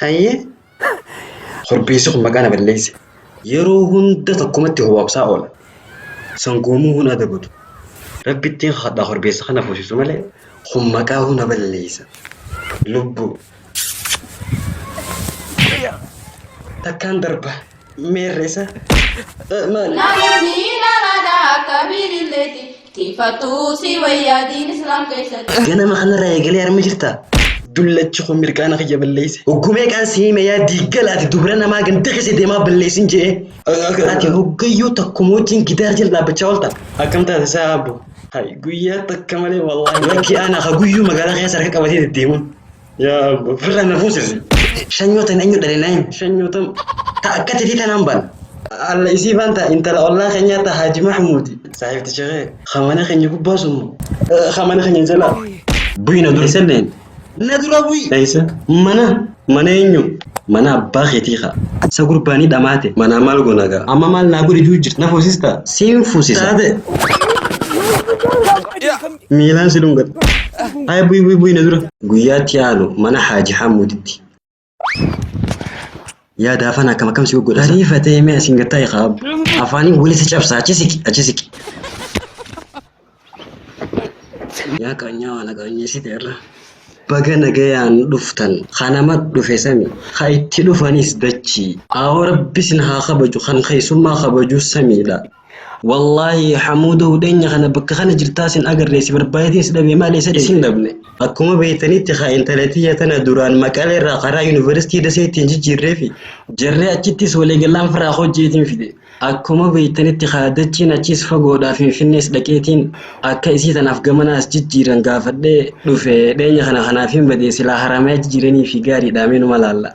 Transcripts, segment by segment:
Hayyee. Korbeessi kun maqaa na balleesse. Yeroo hunda tokkumatti hobaabsaa oola. Sangoomuu hun adabatu. Rabbittiin kadhaa korbeessa kana fuusisu malee kun maqaa hun na balleessa. Lubbuu. Takkaan darba. meerresa maali ganama kanarraa eegalee arma jirta dullachi kun mirqaana kiyya balleesse hoggumee qaan si hime yaa diiggalaati dubra namaa ganda keessa deemaa balleessin jee ati hoggayyuu takkuma wajjin gidaar jala dhaabbachaa oolta akkam taate isaa abbo hay guyyaa takka malee wallaahi lakki ana ka guyyuu magaalaa keessa harka qabatee deddeemuun Yaa abbo firra na fuusisi. Shanyootan eenyu dhale naayim shanyootan ta akkati fi tanaan baan. Alla isii baan ta intala ollaa keenyaa ta Haaji Mahmuudi. Saahibti shekee ka mana keenya gubbaa sun moo? Ka mana keenya jalaa. Buyi na dura selleen. Na dura buyi. Eessa? Mana. Mana eenyu? Mana abbaa keetii kaa. Sa gurbaanii dhamaate. Manaa maal goona gaa? Amma maal naa godhi juu jirti na fuusista? Siin fuusisa. Taate. Miilaan si dhungadha. Haaya bu'i bu'i bu'i na dura. Guyyaatti aanu mana Haaji Hamuuditti. Yaa daafaan akkam akkam si goggodha. Barii fatee mee asiin gattaa eegaa abbu. Afaaniin wali si cabsa achi siqi achi siqi. Yaa qaanyaa waan qaanyeessite irra. Baga nagayaan dhuftan kanama dhufe sami ka itti dhufanis dachii. Aawoo rabbi sin haa kabaju kan keessummaa kabaju samiidha. Wallaahi Hamuudoo hudheenya kana bakka kana jirtaa sin agarree si barbaadeetiin si dhabee maal eessa Isin dhabne. Akkuma beektanitti haa intalatiyya tana duraan maqalee irraa karaa yunivarsiitii dasee ittiin jijjiirreefi jarree achittis waliigallaan firaa koo jeetiin fide. Akkuma beektanitti haa dachiin achiis fagoodhaa finfinnees dhaqeetiin akka isii tanaaf gamana as jijjiiran gaafadhee dhufe dheenya kana kanaafiin bade silaa haramayaa jijiiraniifi gaariidhaa mee numa laalla.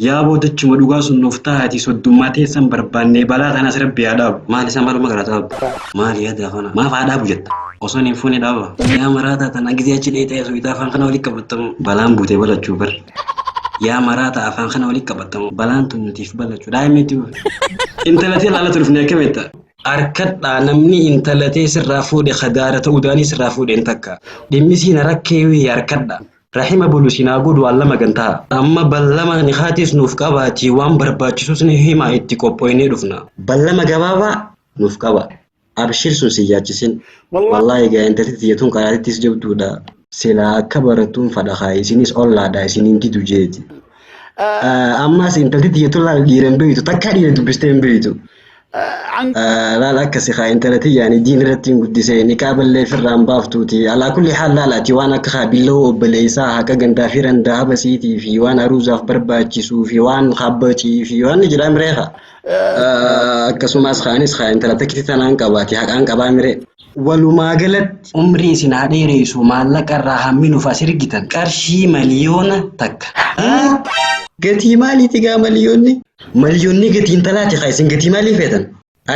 Yaa boodachuma dhugaa sun nuuf tahaati soddummaa teessan barbaannee balaa tanas rabbi haa dhaabu. Maali isaa maluma gara dhaabu. Maali yaadi afana. Maaf haa dhaabu jetta. Osoon hin fuune dhaaba. Yaa maraataa tana gizee achi dheeyxee asooyta afaan kana wali qabattamu. Balaan buutee balachuu bar. Yaa maraataa afaan kana wali qabattamu. Balaan tun nutiif balachuu. Daa'imni itti buufe. Intala tee laalatu dhufne akkam jetta. Arkadhaa namni intala tee sirraa fuudhe ka daara ta'uu daanii sirraa fuudhe hin takka. Dhimmi sii na rakkeewii arkadhaa. Rahima bulu isin haa godhu Allah magan taha. Amma ballama nikhaatiis nuuf qabaatii waan barbaachisus ni himaa itti qophoynee dhufna. Ballama gabaabaa nuuf qabaa. Abshir sun sin yaachisin. Wallahi egaa intalti tiyya tun qaraatittis jabduudha. Silaa akka barattuun fadha kaa isinis ollaadha isin hin didu jeeti. Ammaas intalti tiyya tun laal dhiira hin beektu takkaa dhiira dubbistee hin beektu. Laal akkasi kaa intala tiyyaani diin irratti hin guddisee niqaa ballee firraan baaftuuti. Alaa kulli haal laalaati waan akka haa billoo obboleessaa haqa gandaa fi randaa habasiitii fi waan aruuzaaf barbaachisuu fi waan habbacii fi waan ni jedhaa miree kaa. Akkasumas kaanis kaa intala takkitti tanaan qabaati haqaan qabaa miree. Walumaa galatti umrii isin haa dheereesuu maallaqa irraa hammi nuf as ergitan qarshii maliyoona takka. Haa! Gatii maaliiti gaa maliyoonni? Maliyoonni gatii intalaati kaa isin gatii maalii feetan?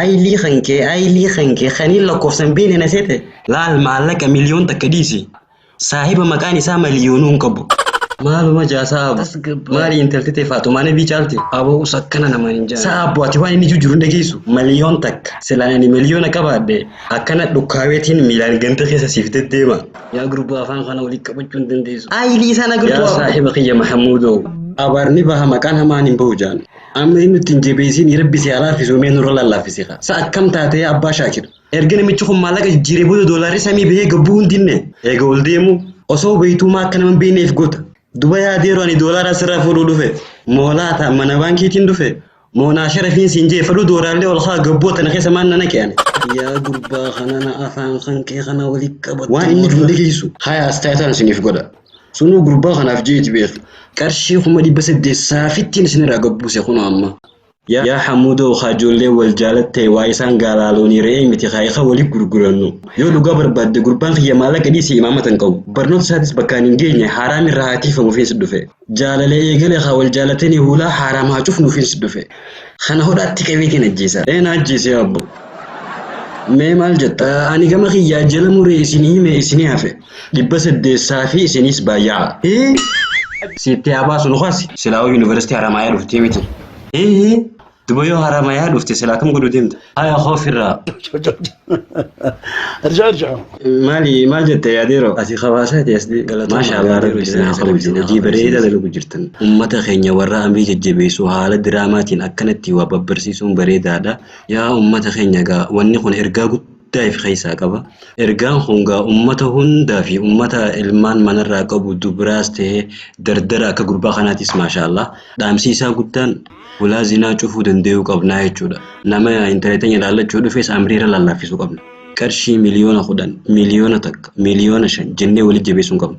Aylii kankee aylii kankee kaniin lakkoofsa hin beekne na seete? Laal maallaqa miliyoon takka dhiisi Saahiba maqaan isaa maliyoonuu hin qabu. Maaluma jaa saa abu. Tasgabbaa'e. Maali intalti tee faaxumaa nabii caalti. Abo us akkana naman hin jaane. Saa abu ati waan inni jujjuru hin dhageessu. Maliyoon takka. Silaan ani maliyoona qabaadhe akkana dhukkaaweetiin miilaan ganda keessa siif deddeema. Yaa gurbaa afaan kana walitti qabachuu hin dandeessu. Aayilii isaan Yaa agartuu saahiba kiyya Mahamuudoo. Abaarni baha maqaan hamaan hin bahu jaan. Amma inni nutti hin jabeessiin rabbi si haa laaffisuu mee nurra lallaafisi kaa. Sa akkam taatee abbaa shaakir. Erga namichi kun maallaqa jijjiiree booda doolaarri samii bahee gabbuu hundinne eega ol deemu osoo beeytuumaa akka nama beeyneef goota. Duba yaadeeru ani doolaara asirraa fuudhuu dhufe moo laata mana baankiitiin dhufe moo naa sharafiin siin jee fadhuu dooraallee ol kaa gabbuu tana keessa maan na naqe ani. Yaa gurbaa kanana afaan kan kee kana wali qabadhu. Waan inni fuudhee geessu haya astaayataan isiniif godha. Sunuu gurbaa kanaaf jeeti beeki. Qarshii kuma dhibba saddeet saafittiin isinirraa gabbuuse kunoo amma. Yaa Hamuudoo kaa ijoolleen wal jaalatte waa isaan gaalaa loonii re'ee miti kaa ikaa wali gurgurannu. Yoo dhugaa barbaadde gurbaan kiyya maallaqa dhiisii imaamata hin qabu. Barnoota isaatis bakkaan hin geenye haaraam irraa haa tiifamufiins dhufe. Jaalala eegale kaa wal jaalateni huulaa haaraam haa cufnuufiins dhufe. Kana hodhaatti qabeetiin ajjeesa. Ee na ajjeesi yaa abbo. Mee maal jetta? Ani gama kiyyaa jalamuu re'ee isinii hime isinii hafe. Dhibba saddeessaa fi isinis baay'aa. Hii! Siitti haa baasu nu kasi. Silaawuu University Haramaayaa dhuftee miti. Hii! Duba yoo Haramaayaa dhufte silaa kam godhu deemta? Haya koo firraa. ارجع ارجع Maali maal jette yaadeeroo? Ati kabaasaa ta'e as Galatooma, Maasha Allah yaadeeroo rabbi isin haa jiraachuu kabaju. dhabdina Hojii kabajuu bareedaa dhabdina. dalagu jirtan. Ummata keenya warra amrii jajjabeessu haala diraamaatiin akkanatti waa babbarsiisuun bareedaadha. Yaa ummata keenya egaa wanni kun ergaa guddaa guddaa if keessaa qaba. Ergaan kun gaa ummata hundaa fi ummata ilmaan manarraa qabu dubraas ta'ee dardara akka gurbaa kanaatis maashaa Allah dhaamsii isaa guddaan hulaa zinaa cufuu dandayuu qabnaa jechuudha. Nama intala teenya laallachuu dhufes amrii irra laallaaffisuu qabna. Qarshii miliyoona kudhan, miliyoona takka, miliyoona shan jennee walitti jabeessuu hin qabnu.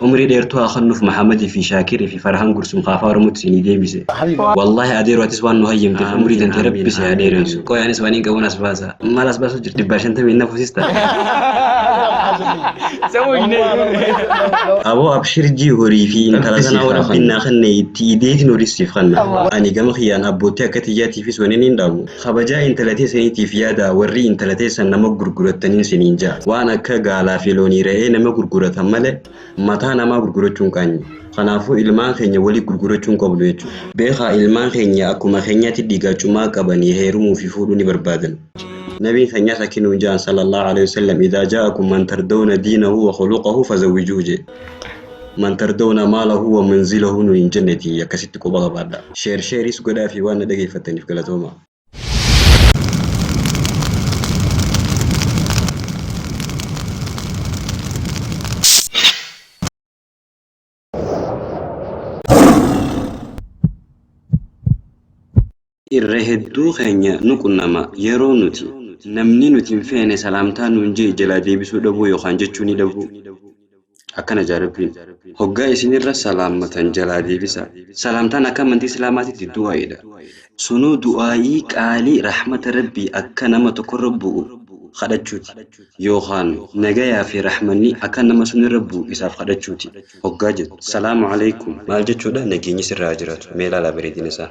Umrii dheertuu haa kennuf Mahamad fi Shakir fi Farhan Gursum kaa afaa oromotti siinii deebise. Wallahi Adeero atis waan nu hayyamtef umrii tantee rabbi si haa dheerensu. Qoy anis wanin qabun as baasa. Mal as basu jirta dhibbaa shantamii nafu sista. Aboo abshir jii horii fi intala tanaa hoo rabbiin naa kenne itti ideetin horis siif kanna. Ani gama kiyyaan abbootti akka tiyyaatiifis wanin hin dhaamu. Kabajaa intala teessaniitiif yaadaa warrii intala teessan nama gurgurattaniin siniin ja'a. Waan akka gaalaa fi loonii re'ee nama gurguratan malee mataa namaa gurgurachuun qaanyi. Kanaafuu ilmaan keenya waliif gurgurachuu hin qabnu jechuudha. Beekaa ilmaan keenya akkuma keenyaatti dhiigaa cumaa qabanii heerumuu fi fuudhuu ni barbaadan. Nabiin keenyas akki nuun ja'an sallallahu aleyh wassallam idaa jaa'akum man tardawna diinahu wa khuluqahu fazawwijuuhu je'e. Man tardawna maalahu wa munzilahu nuun hin jennetii akkasitti quba qabaadhaa. Share Share'is godhaafii waan na dhageeffattaniif galatoomaa. Irra hedduu keenya nu qunnama yeroo nuti namni nuti hin feene salaamtaa nuun je'e jalaa deebisuu dhabuu yookaan jechuunii dhabuu. Akkana jaa Rabbiin, hoggaa isin irra salaammatan jalaa deebisaa. Salaamtaan akka amantii Islaamaatitti du'aa'iidha. Sunuu du'aa'ii qaalii rahmata Rabbii akka nama tokkorra bu'u kadhachuuti. Yookaan nagayaa fi rahmanni akka nama sunirra bu'u isaaf kadhachuuti. Hoggaa jettu, Salaamu Aleykum. Maal jechuudha? Nageenyi sirra haa jiraatu. Mee ilaalaa bareedina isaa.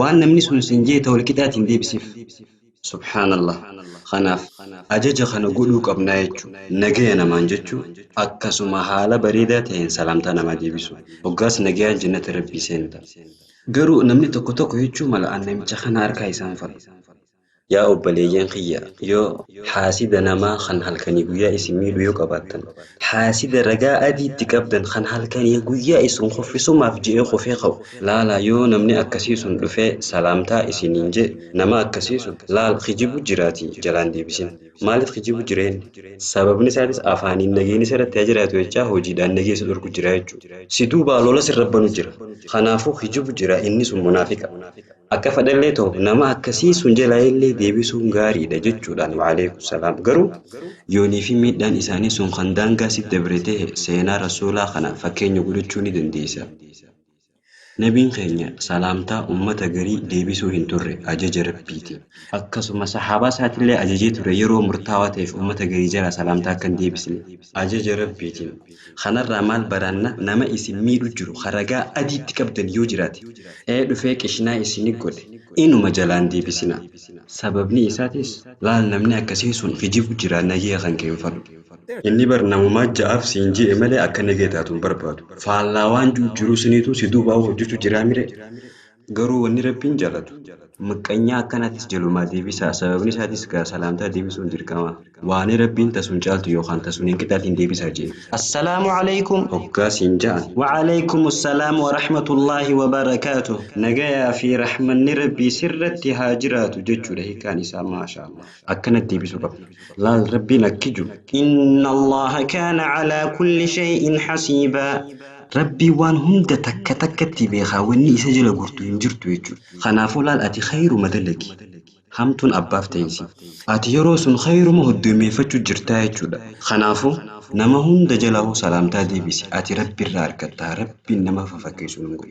Waan namni sun siin jeete walqixaatiin deebisiif. Subhaanallah. Kanaaf, ajaja kana godhuu qabnaa jechu. Nagaya namaan jechu, akkasuma haala bareedaa ta'een salaamtaa namaa deebisu. Hoggaas nagayaan jannata Rabbii seenuta. Garuu namni tokko tokko jechuu mala an namicha kana harkaa isaan fadhu. Yaa obboleeyyan kiyya! Yoo haasida namaa kan halkanii guyyaa isin miidhu yoo qabaattan, haasida ragaa adii itti qabdan kan halkanii guyyaa isin kuffisumaaf je'ee kufee ka'u, laalaa yoo namni akkasii sun dhufee salaamtaa isiniin je'e, nama akkasii sun, laal kijibu jiraatii jalaan deebisin. Maaliif kijibu jira inni? Sababni isaatis afaaniin nageenni isa irratti haa jiraatu jechaa hojiidhaan nagee isa dhorku jira jechu'u. Si duubaa lola sirra banu jira. Kanaafuu kijibu jira inni sun munaafiqa. Akka fadhellee ta'u nama akkasii sun jalaayillee deebisuun gaariidha jechuudhaan wa'aleeykum salaam. Garuu yoonii fi miidhaan isaanii sun kan daangaa sitti dabre tahe seenaa Rasuulaa kana fakkeenya godhachuu ni dandeeysa. Nabiin keenya salaamtaa ummata garii deebisuu hin turre ajaja Rabbiitiin. Akkasuma sahaabaa isaatillee ajajee ture yeroo murtaawaa taheef ummata garii jalaa salaamtaa akka hin deebisne. ajaja Rabbiitiin. Kanarraa maal baranna nama isin miidhu jiru ka ragaa adii itti qabdan yoo jiraate ee dhufee qishnaa isini godhe inuma jalaa hin deebisinaa. Sababnii isaatis laal namni akkasii sun kijibu jira nagee kan kee hin fadhu. Inni bar namumaa ja'aaf siin je'e malee akka nagee taatu hin barbaadu. Faallaa waan ji'u jiruu siniituu si duubaa hojjachu jiraa miree? Garuu wanni Rabbiin jaalatu, maqqanyaa akkanaatiis jalumaa deebisaa, sababni isaatiis gaa salaamtaa deebisuun dirqama, waanii Rabbiin ta sun caaltu yookaan ta sun hin qixaatiin deebisaa je'e. Assalaamu Aleykum! hoggaa siin ja'an. Wa Aleykumu salaam wa rahmatullaahi wa barakaatuh! Nagayaa fii rahmanni Rabbii sirratti haa jiraatu jechuudha hiikaan isaa. Maashaallaah. Akkanatti deebisuu qabna. Laal Rabbiin akki ju. Inna Allaaha kaana calaa kulli shay'in hasiibaa. Rabbiin waan hunda takka takkatti beekaa wanni isa jala gortu hin jirtu jechuudha. Kanaafuu laal ati khayruma dalagi. Hamtuun abbaaf tayinsi. Ati yeroo sun khayruma hoddoymeeyfachu jirtaa jechuudha. Kanaafuu nama hunda jalahuu salaamtaa deebisi ati Rabbi irraa argatta Rabbiin nama fafakkeeysu nun godhin.